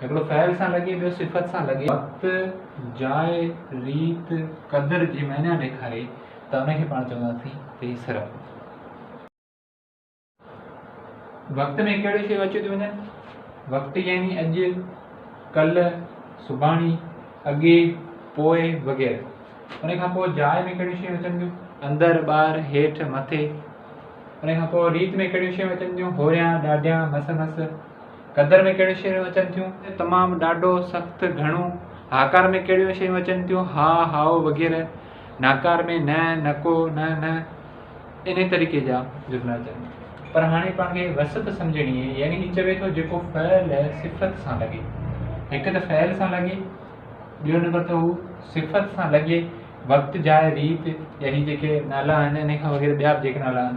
هڪڙو فعل سان لڳي، ٻيو صفت سان لڳي. وقت، جاء، ريت، قدر جي معنيٰ ڏيکاري ته ان کي پاڻ چونداسين ته هي صرف وقت ۾ ڪهڙيون شيون اچيون ٿيون وڃن، وقت يعني اڄ، ڪلهه، سڀاڻي، اڳي، پوء وغيره. ان کان پوء جاء ۾ ڪهڙيون شيون اچن ٿيون، اندر، ٻاهر، هيٺ، مٿي. ان کان پوء ريت ۾ ڪهڙيون شيون اچن ٿيون، هوريان، ڏاڍيان، مس مس. قدر ۾ ڪهڙيون شيون اچن ٿيون؟ تمام، ڏاڍو، سخت، گهڻو. هاڪار ۾ ڪهڙيون شيون اچن ٿيون؟ ها، هائو وغيره. ناڪار ۾ نه، نڪو، نه، نه انهي طريقي جا جملا اچن ٿا. پر هاڻي پاڻ کي وصف سمجهڻي اهي يعني هي چوي ٿو جيڪو فعل صفت سان لڳي. هڪ ته فعل سان لڳي، ٻيو نمبر ته هو صفت سان لڳي، وقت، جاء، ريت يا هي جيڪي نالا آهن انهي کان وغيره ٻيا به جيڪي نالا آهن